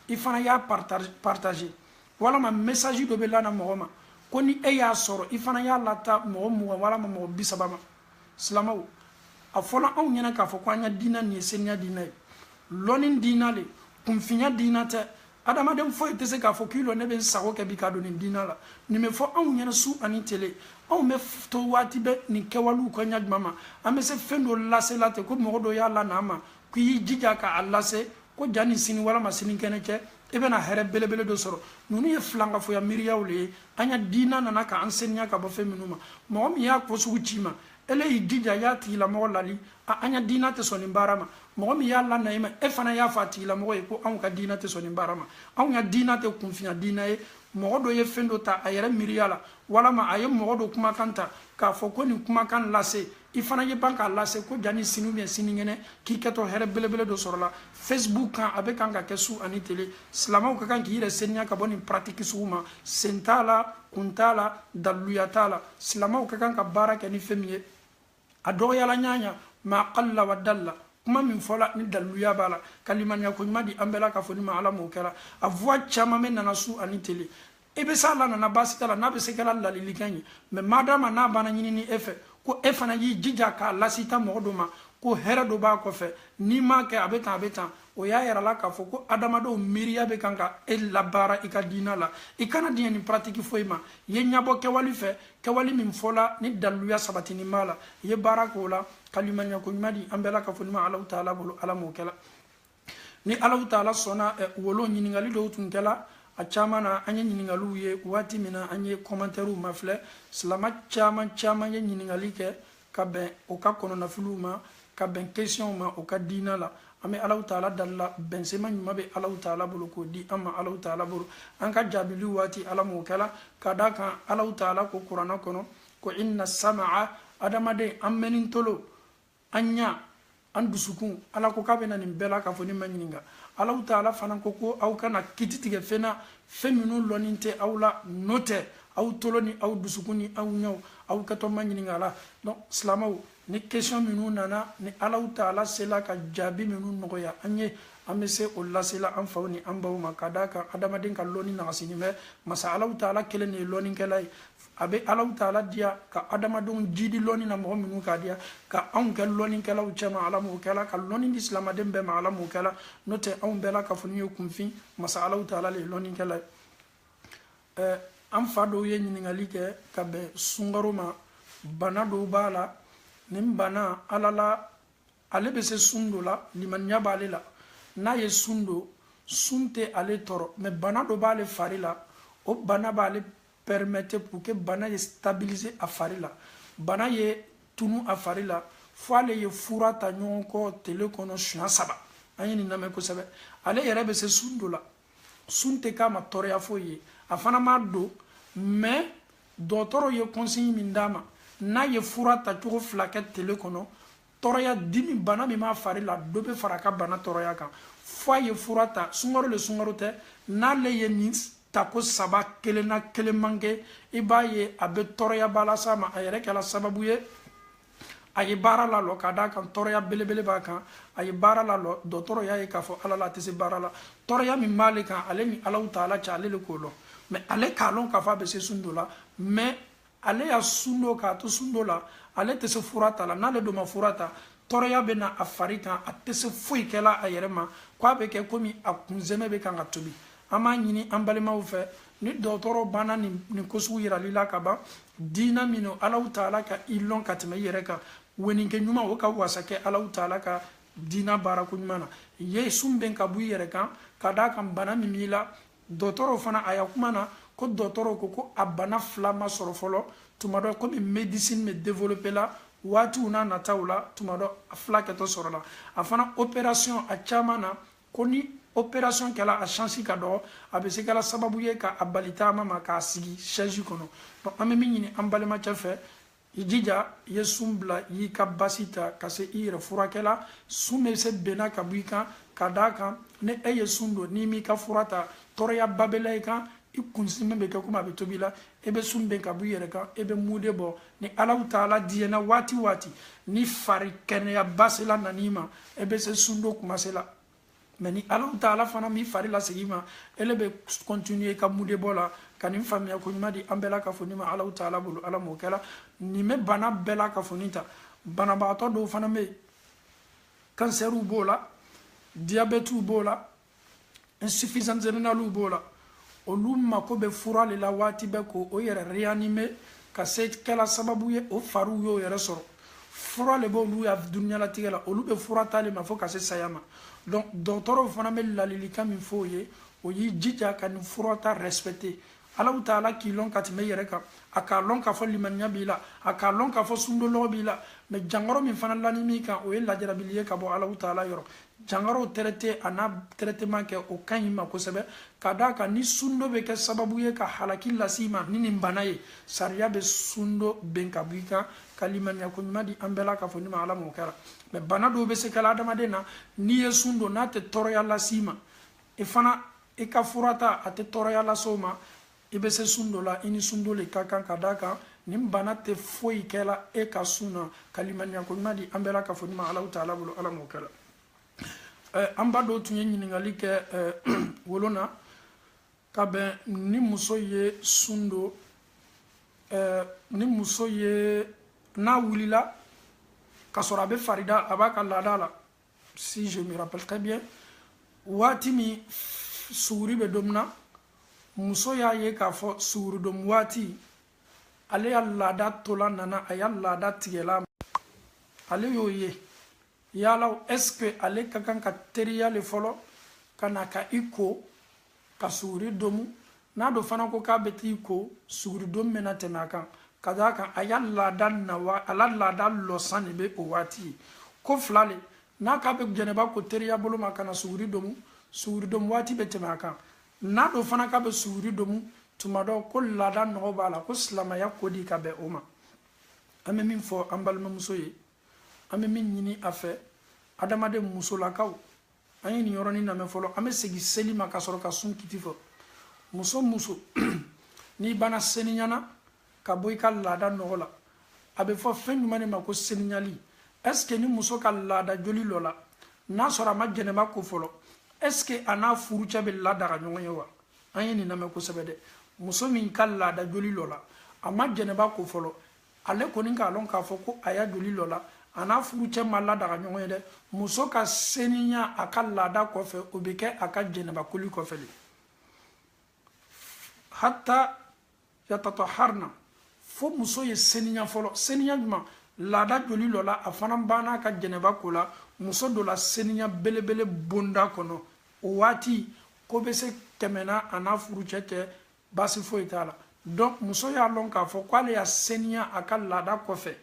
i fana y'a partager walama message dɔ bɛ lana mɔgɔ ma ko ni e y'a sɔrɔ i fana y'a lata mɔgɔ mugan walama mɔgɔ bi saba ma silamaw a fɔla anw ɲɛna k'a fɔ ko an ya diina nin ye seniya diina ye lɔni diina le kunfinya diina tɛ adamaden foyi tɛ se k'a fɔ k'i lɔ ne bɛ n sago kɛ bi ka don nin diina la nin bɛ fɔ anw ɲɛna su ani tele anw bɛ to waati bɛɛ nin kɛwalew kɔ ɲa jumɛn ma an bɛ se fɛn dɔ lasela ten ko mɔgɔ dɔ y'a lana an ma k'i y'i jija k'a lase ko jani sini walama sinikɛnɛ cɛ i bɛna hɛrɛ belebele dɔ sɔrɔ ninnu ye filankafoya miiriyaw le ye an ya diina nana k'an seniya ka bɔ fɛn minnu ma mɔgɔ min y'a ko sugu ci i ma ele y'i jija y'a tigilamɔgɔ lali a an ya diina tɛ sɔn nin baara ma mɔgɔ min y'a lana i ma e fana y'a fɔ a tigilamɔgɔ ye ko anw ka diina tɛ sɔn nin baara ma an ya diina tɛ kunfinya diina ye mɔgɔ dɔ ye fɛn dɔ ta a yɛrɛ miiriya la walama a ye mɔgɔ dɔ kumakan ta k'a fɔ ko nin kumakan lase i fana ye ban k'a lase ko jani sini ou bien sinikɛnɛ k'i kɛtɔ hɛrɛ belebele dɔ sɔrɔla facebook kan a bɛ kan ka kɛ su ani tele silamaw ka kan k'i yɛrɛ seniya ka bɔ nin paratiki sugu ma sen t'a la kun t'a la daliluya t'a la silamaw ka kan ka baara kɛ ni fɛn min ye a dɔgɔyala ɲaɲa ma qalla wa dalla kuma min fɔla ni daliluya b'a la ka limaniya ko ɲuman di an bɛɛ la k'a fɔ ni ma ala m'o kɛra a voix caman bɛ nana su ani tele i bɛ s'a lanana baasi t'a la n'a bɛ se kɛla lalilikan ye mais madama n'a banna ɲinini e fɛ ko e fana y'i jija k'a lasita mɔgɔ dɔ ma ko hɛrɛ dɔ b'a kɔfɛ n'i m'a kɛ a bɛ tan a bɛ tan o y'a yirala k'a fɔ ko adamadenw miiriya bɛ kan ka e labaara i ka diina la i kana diɲɛ nin paratiki foyi ma i ye ɲɛbɔ kɛwali fɛ kɛwali min fɔla ni daliluya sabatinin b'a la i ye baara k'o la ka limaniya ko ɲuman di an bɛɛ la ka fɔ ɲuman alahu taala bolo ala m'o kɛla ni alahu taala sɔnna wolo ɲininkali dɔw tun kɛla a caman na an ye ɲininkaliw ye waati min na an ye kɔmantɛriw mafilɛ silama caman caman ye ɲininkali kɛ ka bɛn o ka kɔnɔnafiliw ma ka bɛn kesiyɔnw ma o ka diina la an bɛ alahu taala dalila bɛnsema ɲuman bɛ alahu taala bolo k'o di an ma alahu taala bolo an ka jaabiliw waati ala m'o kɛla ka d'a kan alahu taala ko kurana kɔnɔ ko inna samaa adamaden an mɛni tolo an ɲa an dusukun ala ko k'a bɛna nin bɛɛ la k'a fɔ ne ma ɲininka Alahu Taala fana ko ko aw kana kiti tigɛ fɛn na fɛn minnu lɔnni tɛ aw la n'o tɛ aw tolo ni aw dusukun ni aw ɲɛw aw kɛtɔ ma ɲininka la donc silamɛw ni question minnu nana ni Alahu Taala sela ka jaabi minnu nɔgɔya an ye an bɛ se o lasela an faw ni an baw ma ka d'a kan adamaden ka lɔnni nagasinin bɛ masa Alahu Taala kelen de ye lɔnnikɛla ye a bɛ Alahu Taala diya ka adamadenw jidi lɔnni na mɔgɔ minnu k'a diya ka anw kɛ lɔnnikɛlaw cɛma ala m'o kɛla ka lɔnni di silamaden bɛɛ ma ala m'o kɛla n'o tɛ anw bɛɛ la ka fɔ n'u ye kunfin masa Alahu Taala le ye lɔnnikɛla ye ɛɛ an fa dɔw ye ɲininkali kɛ ka bɛn sunkaro ma bana dɔw b'a la nin bana ala la ale bɛ se sun don la limaniya b'ale la n'a ye sun don sun tɛ ale tɔɔrɔ mais bana dɔ b'ale fari la o bana b'ale permettre pour que bana ye stabiliser a fari la bana ye tunu a fari la fo ale ye fura ta ɲɔgɔn kɔ tele kɔnɔ siɲɛ saba an ye nin lamɛn kosɛbɛ ale yɛrɛ bɛ se sun don la sun tɛ k'a ma tɔɔrɔya foyi ye a fana m'a don mais dɔgɔtɔrɔ ye consigne min d'a ma n'a ye fura ta cogo fila kɛ tele kɔnɔ tɔɔrɔya dimi bana min b'a fari la dɔ bɛ fara a ka bana tɔɔrɔya kan fo a ye fura ta sunkaro le sunkaro tɛ n'ale ye nin tako saba kelen na kelen man kɛ i b'a ye a bɛ tɔɔrɔyaba las'a ma a yɛrɛ kɛra sababu ye a ye baara lalɔ ka d'a kan tɔɔrɔya belebele b'a kan a ye baara lalɔ dɔgɔtɔrɔ y'a ye k'a fɔ ala la a tɛ se baara la tɔɔrɔya min b'ale kan ale ni Alahu Taala cɛ ale de k'o lɔn mais ale k'a lɔn k'a fɔ a bɛ se sun don la mais ale y'a sun don k'a to sun don la ale tɛ se fura ta la n'ale dun ma fura ta tɔɔrɔya bɛ na a fari kan a tɛ se foyi kɛla a yɛrɛ ma ko a bɛ kɛ komi a kunsɛmɛ bɛ kan ka tobi an b'a ɲini an balimaw fɛ ni dɔgɔtɔrɔ banna nin nin ko sugu yirali la ka ban diina min don Alahu Taala ka i lɔn ka tɛmɛ i yɛrɛ kan weninkɛ ɲuman o ka wasa kɛ Alahu Taala ka diina baarako ɲuman na ye sun bɛn ka bɔ i yɛrɛ kan ka d'a kan bana min b'i la dɔgɔtɔrɔw fana a ya kuma na ko dɔgɔtɔrɔw ko ko a bana fila ma sɔrɔ fɔlɔ tuma dɔ komi médecine bɛ développer la waatiw n'a nataw la tuma dɔ a fila kɛtɔ sɔrɔla a fana opération a caman na ko ni opération kɛla a chance ka dɔgɔ a bɛ se kɛla sababu ye ka a bali taama ma k'a sigi chaise kɔnɔ donc an bɛ min ɲini an balimacɛ fɛ i jija i ye sun bila i y'i ka basi ta ka se i yɛrɛ furakɛla sun bɛ se benna ka bɔ i kan ka d'a kan ni e ye sun don n'i m'i ka fura ta tɔɔrɔyaba bɛ la i kan i kunsɛmɛ bɛ kɛ komi a bɛ tobi la e bɛ sun bɛn ka bɔ i yɛrɛ kan e bɛ mude bɔ ni Alahu Taala diyɛna waati waati ni fari kɛnɛyaba sela nan'i ma e bɛ se sun don kuma sela mais ni alahu taala fana m'i fari lasegin i ma ele bɛ continuer ka mude bɔ la ka nin faamuya ko ɲuman di an bɛɛ lakafonin ma alahu taala bolo ala m'o kɛla nin bɛ bana bɛɛ lakafonin ta banabagatɔ dɔw fana bɛ yen kansɛriw b'o la diabɛtiw b'o la insuffisance rénalew b'o la olu mako bɛ fura de la waati bɛɛ ko o yɛrɛ réanimer ka se kɛla sababu ye o fariw y'o yɛrɛ sɔrɔ fura de b'olu ya duniyalatigɛ la olu bɛ fura ta de ma fo ka se saya ma donc dɔgɔtɔrɔw fana bɛ ladilikan min fɔ o ye o y'i jija ka nin fura ta respecter alahu taala k'i lɔn ka tɛmɛ i yɛrɛ kan a k'a lɔn k'a fɔ limaniya b'i la a k'a lɔn k'a fɔ sundon lɔgɔ b'i la mais jankaro min fana lanin b'i kan o ye lajarabili ye ka bɔ alahu taala yɔrɔ jankaro traiter a n'a traitement kɛ o ka ɲi i ma kosɛbɛ ka d'a kan ni sundon bɛ kɛ sababu ye ka halaki lase i ma ni nin bana ye sariya bɛ sundon ben ka bɔ i kan ka limaniya ko ɲuman di an bɛɛ lakafonin ma ala m'o kɛla mais bana dɔw bɛ se kɛla adamaden na n'i ye sun don n'a tɛ tɔɔrɔya lase i ma i fana i ka fura ta a tɛ tɔɔrɔya lase o ma i bɛ se sun don la i ni sundon le ka kan ka d'a kan nin bana tɛ foyi kɛla e ka sun na ka limaniya ko ɲuman di an bɛɛ lakafonin ma alahu taala bolo ala m'o kɛla an ba dɔ tun ye ɲininkali kɛ o lon na ka bɛn ni muso ye sun don ni muso ye n'a wulila ka sɔrɔ a bɛ farida a b'a ka laada la si je me rappelle très bien waati min suguri bɛ domu na muso y'a ye k'a fɔ suguri domu waati ale ya laada tola nana a ya laada tigɛla ale y'o ye yala est ce que ale ka kan ka teriya le fɔlɔ ka na ka i ko ka suguri domu n'a do fana ko k'a bɛ t'i ko suguri domu bɛ na tɛmɛ a kan ka d'a kan a ya laada na wa a la laada lɔsan de bɛ o waati ye ko fila le n'a k'a bɛ janaba ko teriya bolo ma ka na suguri domu suguri domu waati bɛ tɛmɛ a kan n'a do fana k'a bɛ suguri domu tuma dɔ ko laada nɔgɔ b'a la ko silamɛya ko di ka bɛn o ma an bɛ min fɔ an balimamuso ye an bɛ min ɲini a fɛ adamaden musolakaw an ye nin yɔrɔnin lamɛn fɔlɔ an bɛ segin seli ma ka sɔrɔ ka sun kiti fɔ muso muso n'i banna seniyana ka bɔ i ka laada nɔgɔ la a bɛ fɔ fɛn jumɛn de ma ko seniyali est ce que ni muso ka laada joli lɔla n'a sɔrɔ a ma janaba ko fɔlɔ est ce que a n'a furucɛ bɛ ladaga ɲɔgɔn ye wa an ye nin lamɛn kosɛbɛ dɛ muso min ka laada joli lɔla a ma janaba ko fɔlɔ ale kɔni k'a lɔn k'a fɔ ko a ya joli lɔ la a n'a furucɛ ma ladaga ɲɔgɔn ye dɛ muso ka seniya a ka laada kɔfɛ o bɛ kɛ a ka jɛnɛbakoli kɔfɛ le hatta yatataharna fo muso ye seniya fɔlɔ seniya jumɛn laada joli lɔ la a fana banna ka jɛnɛba ko la muso don la seniya belebele bonda kɔnɔ o waati ko bɛ se tɛmɛna a n'a furucɛ cɛ baasi foyi t'a la donc muso y'a lɔn k'a fɔ k'ale ya seniya a ka laada kɔfɛ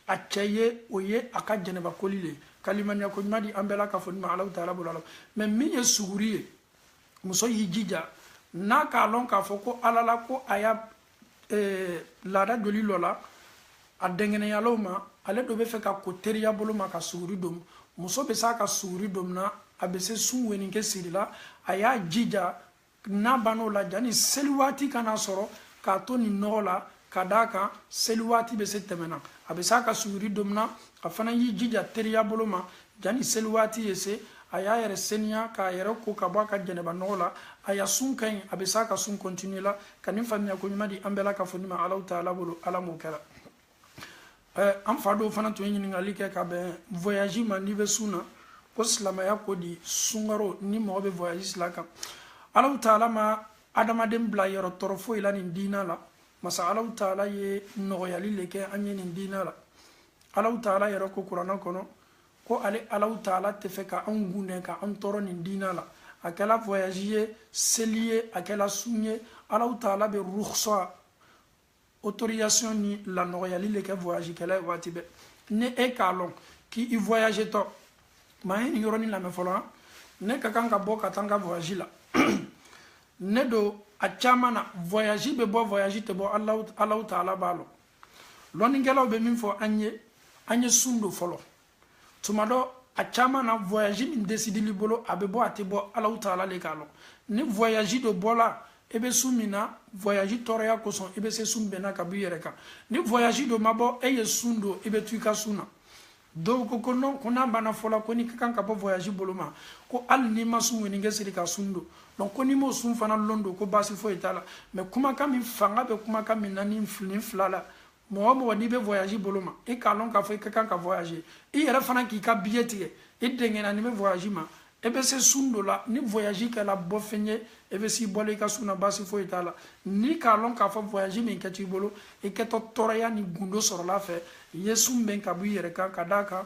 a cɛ ye o ye a ka jɛnɛbakoli le ka limaniya ko ɲuman di an bɛɛ la k'a fɔ ni ma alaw taala bolo ala mais min ye suguri ye muso y'i jija n'a k'a lɔn k'a fɔ ko ala la ko a ya eh, laada joli lɔ la a dɛngɛnɛyala o ma ale do bɛ fɛ ka ko teriya bolo ma ka suguri domu muso bɛ se a ka suguri domuna a bɛ se sun weninkɛ sirila a y'a jija n'a bann'o la jani seli waati kana sɔrɔ k'a to nin nɔgɔ la ka d'a kan seli waati bɛ se tɛmɛna a bɛ se a ka suguri domuna a fana y'i jija teriya bolo ma jani seli waati ye se a y'a yɛrɛ seniya k'a yɛrɛ ko ka bɔ a ka jɛnɛba nɔgɔ la a ya sun ka ɲi a bɛ se a ka sun continuer la ka nin faamuya ko ɲuman di an bɛɛ la ka fɔ ni ma alaw taala bolo ala m'o kɛra eh, an fa dɔw fana tun ye ɲininkali kɛ ka bɛn voyage ma n'i bɛ sun na ko silamɛya ko di sunkaro ni mɔgɔ bɛ voyage sila kan alaw taala ma adamaden bila yɔrɔ tɔɔrɔ foyi la nin diina la masa alaw taala ye nɔgɔyali le kɛ an ye nin diina la alaw taala yɛrɛ ko kuranɛ kɔnɔ ko ale alaw taala tɛ fɛ ka anw gundɛ ka an tɔɔrɔ nin diina la a kɛla voyage ye seli ye a kɛla sun ye alaw taala bɛ rukhsa autorisation ni lanɔgɔyali le kɛ voyagekɛla ye waati bɛɛ ni e k'a lɔn k'i voyage tɔ mais a ye nin yɔrɔnin lamɛn fɔlɔ ne ka kan ka bɔ ka taa n ka voyage la ne do a caman na voyage bɛ bɔ voyage tɛ bɔ alaw taala b'a lɔn lɔnnikɛlaw bɛ min fɔ an ye an ye sun don fɔlɔ tuma dɔ a caman na voyage min décidel'i bolo a bɛ bɔ a tɛ bɔ alaw taala le k'a lɔn ni voyage do bɔla i bɛ sun min na voyage tɔɔrɔya kosɔn i bɛ se sun bɛnna ka bɔ i yɛrɛ kan ni voyage do ma bɔ e ye sun don i bɛ to i ka sun na dɔw ko ko non ko n'a banna fɔla ko n'i ka kan ka bɔ voyage bolo ma ko hali n'i ma sun weninkɛ siri ka sun don donc ko n'i m'o sun fana lon don ko baasi foyi t'a la mais kumakan min fanga bɛ kumakan min na ni nin fila la mɔgɔ mɔgɔ n'i bɛ voyage bolo ma i k'a lɔn k'a fɔ i ka kan ka voyage i yɛrɛ fana k'i ka billet tigɛ i dɛngɛnanin bɛ voyage ma e bɛ se sun don la ni voyage kɛla bɔ fɛn ye e bɛ s'i bɔla i ka sun na baasi foyi t'a la n'i k'a lɔn k'a fɔ voyage min kɛt'i bolo i kɛtɔ tɔɔrɔya ni gundo sɔrɔl'a fɛ i ye sun bɛn ka bɔ i yɛrɛ kan ka d'a kan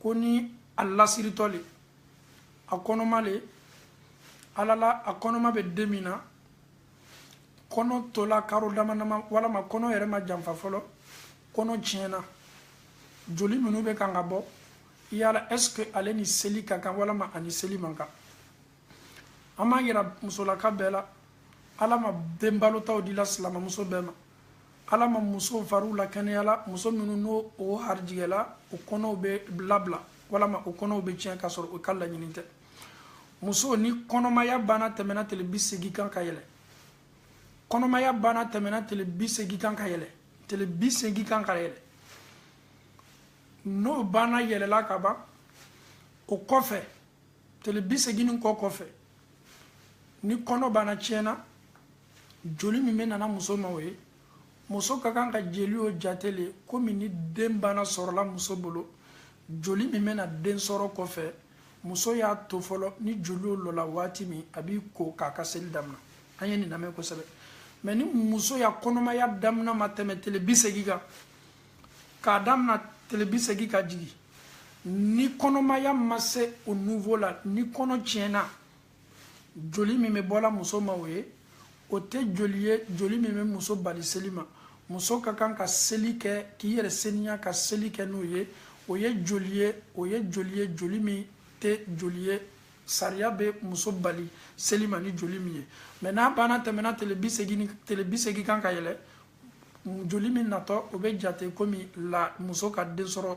ko ni a lasiritɔ le a kɔnɔma le ala la a kɔnɔma bɛ den min na kɔnɔ tola karo dama dama walama kɔnɔ yɛrɛ ma janfa fɔlɔ kɔnɔ tiɲɛna joli minnu bɛ kan ka bɔ yala est ce que ale ni seli ka kan walama a ni seli man kan an b'a yira musolaka bɛɛ la ala ma den balotaw dila silamamuso bɛɛ ma ala ma muso fariw lakɛnɛyala muso minnu n'o o harijigɛla o kɔnɔw bɛ labila walama o kɔnɔw bɛ tiɲɛ k'a sɔrɔ o ka laɲini tɛ muso ni kɔnɔmaya banna tɛmɛna tile bi segin kan ka yɛlɛ kɔnɔmaya banna tɛmɛna tile bi segin kan ka yɛlɛ tile bi segin kan ka yɛlɛ n'o banna yɛlɛla ka ban o kɔfɛ tile bi segin nin kɔ kɔfɛ ni kɔnɔ banna tiɲɛna joli min bɛ nana muso ma o ye muso ka kan ka jeli o jate le komi ni den banna sɔrɔla muso bolo joli min bɛna den sɔrɔ kɔfɛ muso y'a to fɔlɔ ni joli o lɔla waati min a b'i ko k'a ka seli damina an ye nin lamɛn kosɛbɛ mɛ ni muso ya kɔnɔmaya damina ma tɛmɛ tele bi segin kan k'a damina tele bi segin ka jigin ni kɔnɔmaya ma se o niveau la ni kɔnɔ tiɲɛna joli min bɛ bɔla muso ma o ye o tɛ joli ye joli min bɛ muso bali seli ma muso ka kan ka seli kɛ k'i yɛrɛ seniya ka seli kɛ n'o ye o ye joli ye o ye joli ye joli min tɛ joli ye sariya bɛ muso bali seli ma ni joli min ye mɛ n'a banna tɛmɛna tele bi segin kan ka yɛlɛ joli min natɔ o bɛ jate komi la muso ka den sɔrɔ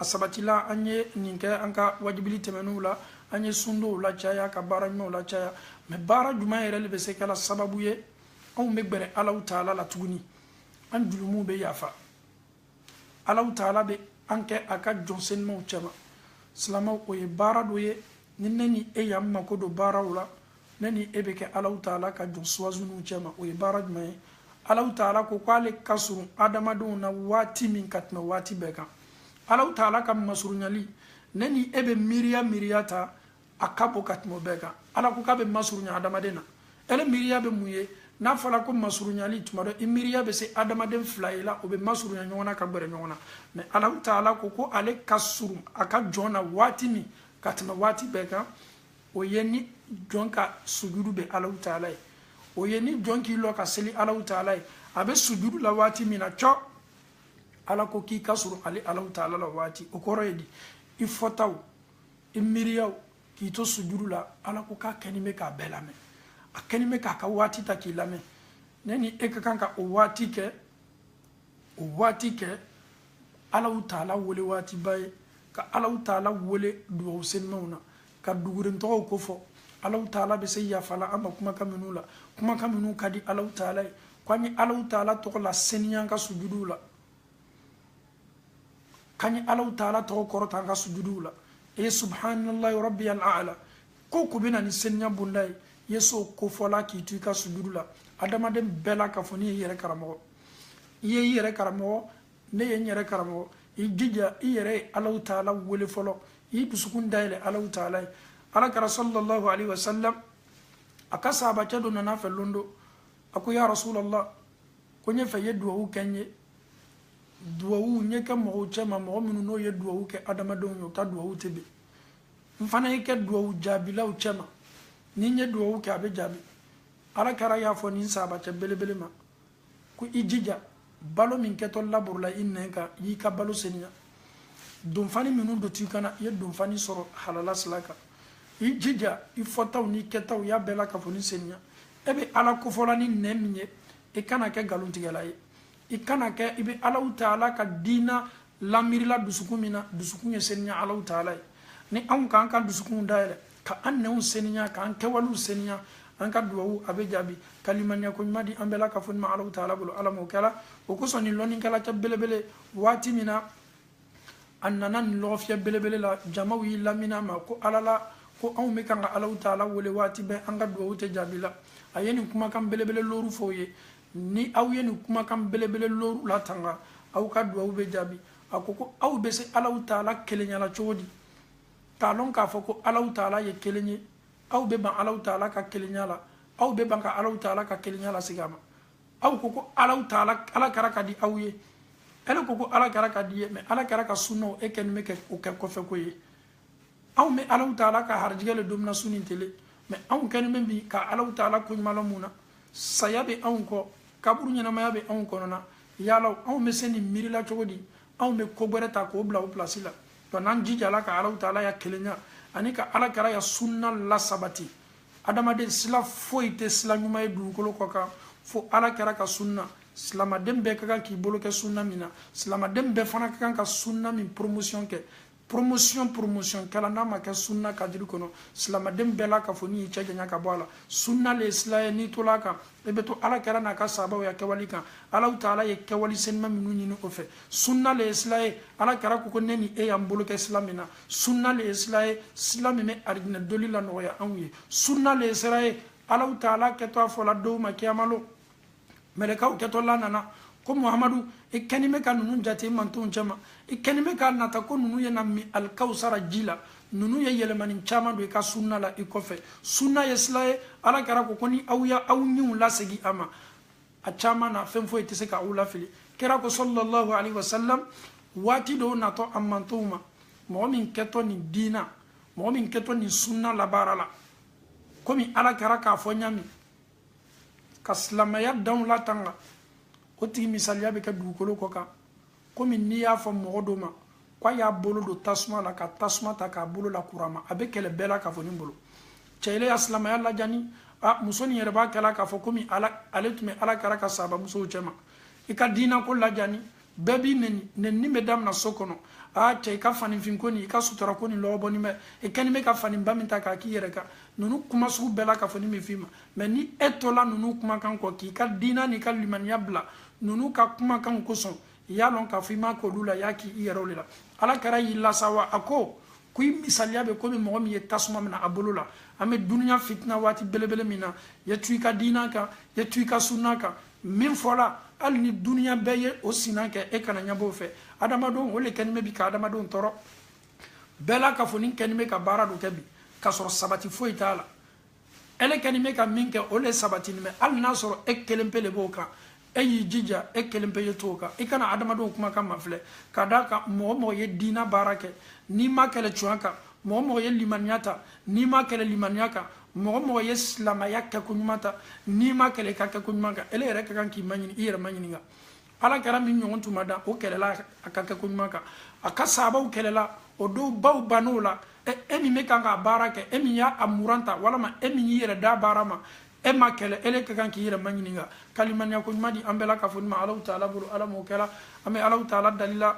a sabatila an ye nin kɛ an ka wajibili tɛmɛnenw la an ye sundonw lacaya ka baara ɲumanw lacaya mɛ baara juman yɛrɛ le bɛ se kɛla sababu ye anw bɛ gbɛrɛ alaw taala la tuguni an jurumuw bɛ yafa alaw taala bɛ an kɛ a ka jɔn senumanw cɛma silamaw o ye baara dɔ ye ni ne ni e y'an mako don baara o la ne ni e bɛ kɛ alaw taala ka jɔn suwazinenw cɛma o ye baara jumɛn ye alaw taala ko k'ale ka surun adamadenw na waati min ka tɛmɛ waati bɛɛ kan alaw taala ka masurunyali ne ni e bɛ miiriya miiriya ta a ka bon ka tɛmɛ o bɛɛ kan ala ko k'a bɛ masurunya adamaden na ele miiriya bɛ mun ye n'a fɔra ko masurunyali tuma dɔ i miiriya bɛ se adamaden fila ye la o bɛ masurunya ɲɔgɔn na ka gbɛrɛ ɲɔgɔn na mɛ alaw taala ko ko ale ka surun a ka jɔn na waati min ka tɛmɛ waati bɛɛ kan o ye ni jɔn ka sujudu bɛ alaw taala ye o ye ni jɔn k'i lɔ ka seli alaw taala ye a bɛ sujudu la waati min na cɔ ala ko k'i ka surun ale alaw taala la waati o kɔrɔ ye di i fɔtaw i miiriyaw k'i to sujudu la ala ko k'a kɛnin bɛ k'a bɛɛ lamɛn a kɛnin bɛ k'a ka waati ta k'i lamɛn ne ni e ka kan ka o waati kɛ o waati kɛ alaw taala wele waatiba ye ka alaw taala wele duwawu senimaw na ka duguren tɔgɔw kofɔ alaw taala bɛ se yafala an ma kumakan minnu la kumakan minnu ka di alaw taala ye ko an ye alaw taala tɔgɔ laseniya an ka sujuduw la k'an ye alaw taala tɔgɔ kɔrɔta an ka sujuduw la e ye subhanallahi rabbiyal ala ko ko bɛ na ni seniya bonda ye ye so kofɔla k'i to i ka sujudu la adamaden bɛɛ lakafoni y'i yɛrɛ karamɔgɔ i ye i yɛrɛ karamɔgɔ ne ye n yɛrɛ karamɔgɔ i jija i yɛrɛ ye alaw taala wele fɔlɔ i dusukun dayɛlɛ alaw taala ye ala kɛra sallallahu alaihi wasallam a ka sahabacɛ dɔ nana a fɛ lon dɔ a ko ya rasulallah ko n y'a fɛ i ye duwawu kɛ n ye duwawu n ye kɛ mɔgɔw cɛma mɔgɔ minnu n'o ye duwawu kɛ adamadenw ye u ka duwawu tɛ ben n fana ye kɛ duwawu jaabilaw cɛma ni n ye duwawu kɛ a bɛ jaabi ala kɛra y'a fɔ nin sahabacɛ belebele ma ko i jija balo min kɛtɔ laborila i nɛn kan i y'i ka balo seniya donfani minnu dontɔ i kan na i ye donfani sɔrɔ halala sila kan i jija i fɔtaw n'i kɛtaw y'a bɛɛ lakafoni seniya e bɛ ala kofɔla ni nɛn min ye i kana kɛ nkalontigɛla ye i kana kɛ i bɛ alaw taala ka diina lamiirila dusukun min na dusukun ye seniya alaw taala ye ni anw k'an ka dusukunw dayɛlɛ ka an nɛnw seniya k'an kɛwalew seniya an ka duwawu a bɛ jaabi ka limaniya ko ɲuman di an bɛɛ lakafoni ma alaw taala bolo ala m'o kɛra o kosɔn nin lɔnnikɛla cɛ belebele waati min na a nana nin lɔgɔfiyɛ belebele la jamaw y'i lamina ma ko ala la ko anw bɛ kan ka alaw taala wele waati bɛɛ an ka duwawu tɛ jaabila a ye nin kumakan belebele looru fɔ o ye ni aw ye nin kumakan belebele looru latanga aw ka duwawu bɛ jaabi a ko ko aw bɛ se alaw taala kelenyala cogo di k'a lɔn k'a fɔ ko alaw taala ye kelen ye aw bɛ ban alaw taala ka kelenya la aw bɛ ban ka alaw taala ka kelenya lasegin a ma aw ko ko alaw taala ala kɛra ka di aw ye e le ko ko ala kɛra ka d'i ye mɛ ala kɛra ka sunnaw e kɛni bɛ kɛ o kɛ kɔfɛko ye anw bɛ alaw taala ka harijigɛ le domuna su ni tele mɛ anw kɛni bɛ bi ka alaw taala koɲumanlɔn mun na saya bɛ anw kɔ kaburu ɲɛnamaya bɛ anw kɔnɔna yala anw bɛ se nin miirila cogo di anw bɛ ko gbɛrɛ ta k'o bila o pilasi la dɔnku n'an jijala ka alaw taala ya kelenya ani ka ala kɛra ya sunna lasabati adamaden sila foyi tɛ sila ɲuman ye dugukolo kɔ kan fo ala kɛra ka sunna silamaden bɛɛ ka kan k'i bolo kɛ sunna min na silamaden bɛɛ fana ka kan ka sunna min promotion kɛ promotion promotion kɛla n'a ma kɛ sunna kadiri kɔnɔ silamaden bɛɛ lakafoni y'i cɛ janya ka bɔ a la sunna le ye sila ye n'i tola a kan i bɛ to ala kɛra n'a ka sahabaw ya kɛwali kan alaw taala ye kɛwali senima minnu ɲini o fɛ sunna le ye sila ye ala kɛra ko ko ne ni e y'an bolo kɛ sila min na sunna le ye sila ye sila min bɛ arijinɛ donli lanɔgɔya anw ye sunna le ye sira ye alaw taala kɛtɔ a fɔla dɔw ma kiyama lon mɛlɛkaw kɛtɔla nana ko muhamadu i kɛni bɛ ka ninnu jate i mantonw cɛma i kɛni bɛ k'a nata ko ninnu ye na min alikawusara ji la ninnu ye yɛlɛmani caman don i ka sunna la i kɔfɛ sunna ye sila ye ala kira ko ko ni aw ya aw ɲinw lasigi a ma a caman na fɛn foyi tɛ se ka aw lafili kira ko sallallahu alaihi wasallam waati dɔ natɔ a mantonw ma mɔgɔ min kɛtɔ nin diina mɔgɔ min kɛtɔ nin sunna labaara la komi ala kira k'a fɔ ɲami ka silamɛya danw latanga o tigi misaliya bɛ kɛ dugukolo kɔ kan komi n'i y'a fɔ mɔgɔ dɔ ma ko a y'a bolo don tasuma la ka tasuma ta k'a bolo lakuru a ma a bɛ kɛlɛ bɛɛ lakafoni bolo cɛ ile ya silamɛya lajani a muso nin yɛrɛ b'a kɛla k'a fɔ komi ale tun bɛ ala kira ka sahaba musow cɛma i ka diinako lajani bɛɛ b'i nɛni nɛnini bɛ damina so kɔnɔ aa cɛ i ka faninfinko nin i ka sutura ko nin lɔgɔbɔnin bɛ i kɛni bɛ ka faninba min ta k'a k'i yɛrɛ kan ninnu kuma sugu bɛɛ lakafoni bɛ f'i ma mɛ ni e tola ninnu kumakan kɔ k'i ka diina n'i ka limaniya bila ninnu ka kumakanw kosɔn i y'a lɔn k'a fɔ i ma k'olu la i y'a k'i yɛrɛ de la ala kira y'i lasɛwa a ko ko i misaliya bɛ komi mɔgɔ min ye tasuma mina a bolo la an bɛ duniya fitina waati belebele min na ye to i ka diina kan ye to i ka sunna kan min fɔla hali ni duniya bɛɛ ye o sina kɛ e kana ɲɛbɔ o fɛ adamadenw o le kɛni bɛ bi ka adamadenw tɔɔrɔ bɛɛ lakafonin kɛni bɛ ka baara dɔ kɛ bi k'a sɔrɔ sabati foyi t'a la ele kɛni bɛ ka min kɛ o le sabatini bɛ hali n'a sɔrɔ e kelen pe le b'o kan e y'i jija e kelen pe ye to o kan i kana adamadenw kumakan mafilɛ ka d'a kan mɔgɔ mɔgɔ ye diina baara kɛ n'i ma kɛlɛ tuɲa kan mɔgɔ mɔgɔ ye limaniya ta n'i ma kɛlɛ limaniya kan mɔgɔ mɔgɔ ye silamaya kɛ ko ɲuman ta n'i ma kɛlɛ i ka kɛ ko ɲuman kan ele yɛrɛ ka kan k'i maɲini i yɛrɛ maɲininka ala kira min ɲɔgɔn tun ma dan o kɛlɛla a ka kɛ ko ɲuman kan a ka saabaw kɛlɛla o dɔw baw bann'o la e min bɛ kan k'a baara kɛ e min y'a a muran ta walama e min y'i yɛrɛ da baara ma e ma kɛlɛ ele ka kan k'i yɛrɛ maɲininka ka limaniya ko ɲuman di an bɛɛ lakafoni ma alahu taala bolo ala m'o kɛla an bɛ alahu taala dalila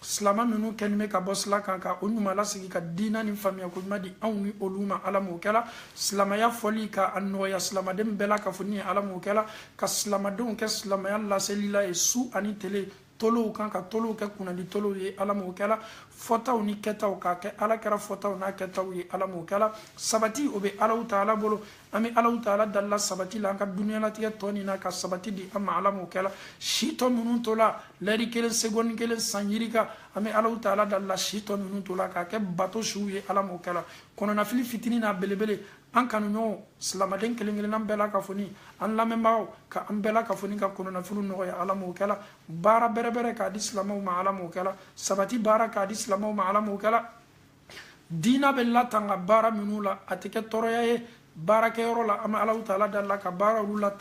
silama minnu kɛni bɛ ka bɔ sila kan ka o ɲuman lasigi ka diina ni faamuya ko ɲuman di anw ni olu ma ala m'o kɛla silamaya fɔli ka a nɔgɔya silamaden bɛɛ lakafoni ye ala m'o kɛla ka silamadenw kɛ silamaya laselila ye su ani tele tolow kan ka tolow kɛ kunnadi tolow ye ala m'o kɛla fɔtaw ni kɛtaw k'a kɛ ala kira fɔtaw n'a kɛtaw ye ala m'o kɛla sabati o bɛ alahu taala bolo an bɛ alahu taala dalila sabati la an ka duniyalatigɛ tɔ nin na ka sabati di an ma ala m'o kɛla si tɔ minnu tola lɛri kelen segɔni kelen san yirika an bɛ alahu taala dalila si tɔ minnu tola k'a kɛ bato siw ye ala m'o kɛla kɔnɔnafili fitini n'a belebele an kanuɲɔgɔnw silamaden kelen kelennan bɛɛ lakafoni an lamɛnbagaw ka an bɛɛ lakafoni ka kɔnɔnafiliw nɔgɔya ala m'o kɛla baara bɛrɛbɛrɛ k'a di silamaw ma ala m'o kɛla sabati baara k'a di silamaw ma ala m'o kɛla diina bɛ latanga baara minnu la a tɛ kɛ tɔɔrɔya ye baarakɛyɔrɔ la an bɛ alahu taala dali la ka baara olu la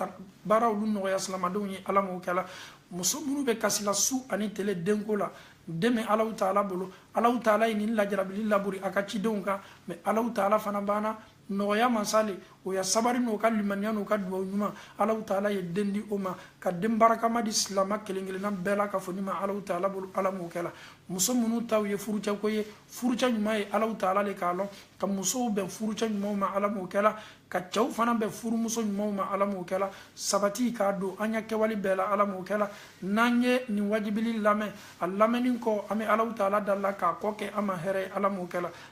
baara olu nɔgɔya silamadenw ye ala m'o kɛla muso minnu bɛ kasila su ani tele denko la den bɛ alahu taala bolo alahu taala ye nin lajarabili labori a ka cidenw kan mɛ alahu taala fana bana nɔgɔya masa le o ya sabari n'o ka limaniya n'o ka duwawu ɲuman alahu taala ye den di o ma ka den barakama di silama kelen kelenna bɛɛ la ka fɔ ni ma alahu taala bolo ala m'o kɛ la muso minnu taw ye furucɛ ko ye furucɛ ɲuman ye alahu taala le k'a lɔn ka musow bɛn furucɛ ɲumanw ma ala m'o kɛ la ka cɛw fana bɛn furumuso ɲumanw ma ala m'o kɛ la sabati ka don an ya kɛwale bɛɛ la ala m'o kɛ la n'an ye nin wajibili lamɛn a lamɛnni kɔ an bɛ alahu taala dali la k'a kɔ kɛ an ma hɛrɛ ye ala m'o kɛ la